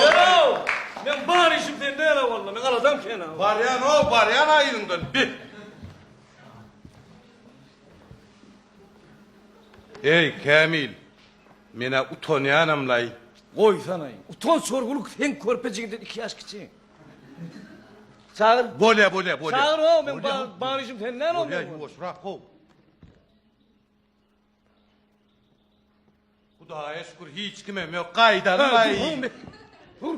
Ýöräw! Meň bar işim sende ýöräw walla, meň aladam kän-a. Barýan-ow, barýan-a yzyňdan, bi! Eý, Kämil, men-ä utanýanam-laý. Goýsana-aý, utanç urgulyk, sen körpe jigiden iki ýaş kiçi. Çagyr. Bolýa, bolýa, bolýa. Çagyr-ow, meň bar işim sende ýöräw walla. Bolýa, ýuwaşrak-ow. Hudaýa şükür hiç kimem ýok. Gaýdaly gaý. Hur.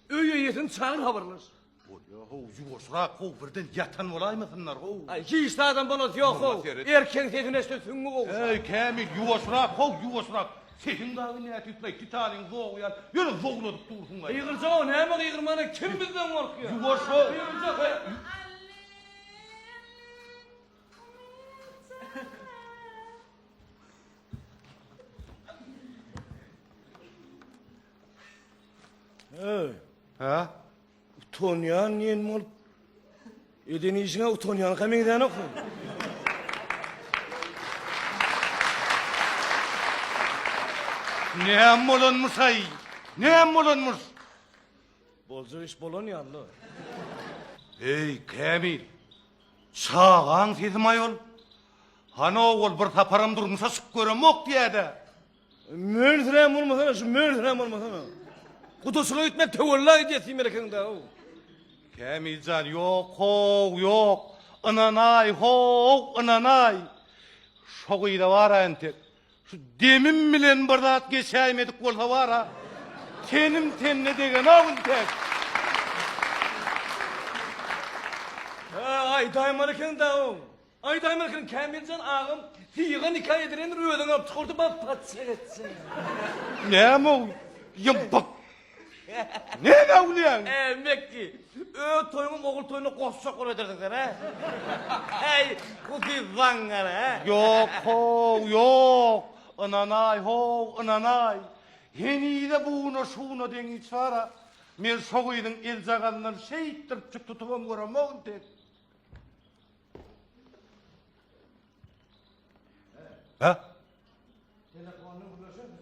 Öýe ýetin çagyr habarlaş. Bolýa ho, ýuwaşrak ho, birden ýatan bolaýmasynlar ho. Aý, hiç adam bolasy ýok ho. Erkeň sesini eşde süňňi gowşa. Eý, Kämil, ýuwaşrak ho, ýuwaşrak. Sesiň dagy nätip laý, titanyň zogy ýaly, ýöne zowladyp dursuň gaý. Gygyrja ho, näme gygyrmana, kim bizden gorkýa? Ýuwaş ho. Gygyrja ho. Hey, Ha? utanýan ýen bolup. Eden işiňe utanýan hem eden okun. Näm bolanmys ay? Näm bolanmys? Boljak iş bolan ýaly. Ey Kamil, Çagaň sesimi-aý ol. Hany-ow ol bir saparam durmuşa çykyp göremok diýýä-dä. Mönsirän bolmasana, şu mönsirän bolmasana. Gudaçylyk etmek töwella edýä siz Melekegň da-ow. Kämil jan, ýok-how, ýok. Ynanaý, how, ynanaý. Şo gyza baraýyn tek. Şu demim bilen bir zat geçäýmedik bolsa bar-a. Tenim tenine degenok intek. Hä, aýdaýmar eken dagyň. Aýdaýmar eken Kämiljan agam syýga nika edilendir özüňi alyp çykardy bap patyşa geçjek. Näme-ow? Ýa bap Näme öwlüýäň? Ä, Mekki, öz toýuňyň ogul toýuna goşjak bolup edersiň sen, hä? Häý, bu siz zaňňar, hä? Ýok, how, ýok! Ynanaý, how, ynanaý! Henize buna-şuna deňiç bar-a. Men şo gyzyň eljagazyndan şeýtdiripjik tutubam göremogyn tek. Hä? Telefonyny gürleşersiň.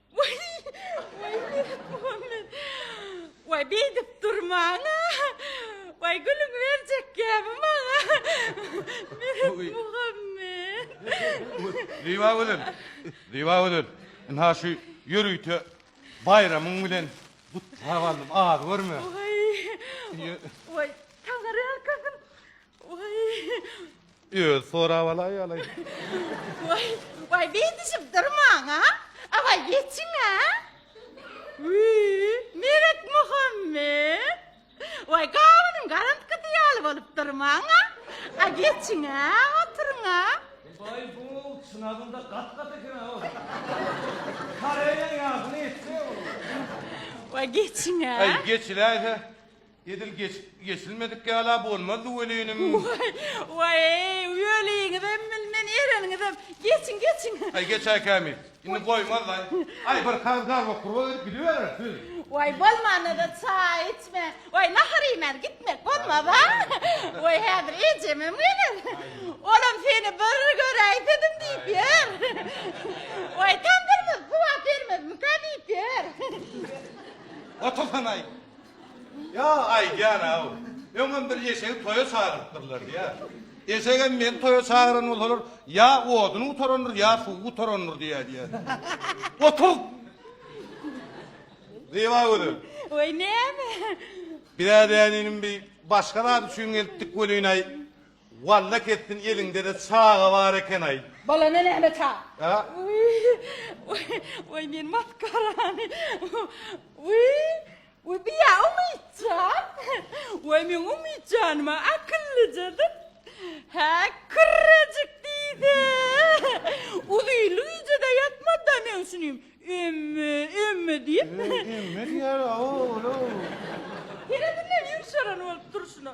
Waý, beýdip durmaň-a! Waý, gülüňi berjek gäbi maňa! Meretmuhammet! Zyba gözel! Zyba gözel! Ynha şu ýörite baýramyň bilen gutlap aldym, az görme! Waý, taňyrýalkasyn! Özi sorap alaý alaý. Waý, waý beýdişip durmaň-a. Awaý geçiň-ä. Wiý, Meretmuhammet. Waý gabynyň garantgysy ýaly bolup durmaň-a. A geçiň-ä, oturyň-a. Waý bu çynarynda gat-gat eken-ä ol. Koreýaň ýagyny etseň olar. Waý geçiň-ä. Aý geçiläý-hä. Edil geçip geçilmedik ýala bolmazdy welinim. Waý, waý-eý, weliňizem bilmen, ereniňizem. Geçiň, geçiň. Aý, geçäý kämil. Indi goýmaz-laý. Aý, bir kag garba-kurba edip gidiberersiz. Waý, bolmanda-da çaý içmän, waý, nahar iýmän gitmek bolmaz-a. Waý, häzir ejemem geler. Olam seni bir göräýsedim diýip ýör. Waý, tamdyrymyz suwap bermezmikä diýip ýör. Otursan-aý. Ýa, aýdýan-aw, öňem bir eşegi toýa çagyrypdyrlar diýýär. Eşegem meni toýa çagyran bolsalar, ýa oduny gutarandyr, ýa suwy gutarandyr diýýär diýýär. Otur! Zyba gözel. Weý, näme? Biräz-ä inim bi başga zat üçin gelipdik welin-aý. Walla kessin eliňdede çaga bar ekenaý. Bolanda näme ça. Oý men maskarany Oý bu ýa Umytjan Oý meň Umytjanyma akyllyjadyr Hä kürrejik diýse Uzylyjada ýatmada men şuny Emme emme diýip Emme diýer aw oglum. Helezinden ýumşaran bolup durşuna.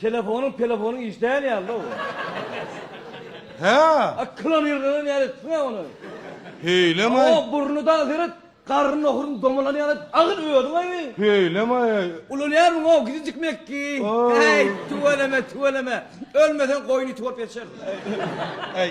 Telefonyň pelefonyň iş däl ýalyda bu. Hä? A klon ýyrganan ýaly etdiňä ony. Heýlem-aý. O burny dagy seret, garny nohuryň domalan ýaly edip agyl özüň aýy. Heýlem-aý. Ulalýarmyň-ow gijijik mekki. Äý, tüweleme, tüweleme. Ölmeseň goýun iti bolup ýaşarsyň. Äý.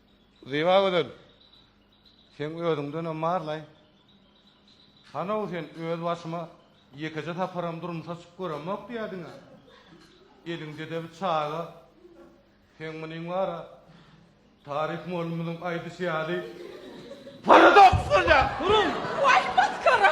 Zyba gözel, seň özüňdenem barlaý. Hanow sen öz başyma ýekeje saparam durmuşa çykyp göremok diýýädiň-ä. Eliňdede bir çaga. Seň munyň bar-a, Tarik mollumyzyň aýdyşy ýaly, paradoks bolýar. Duruň! Waý, masgara!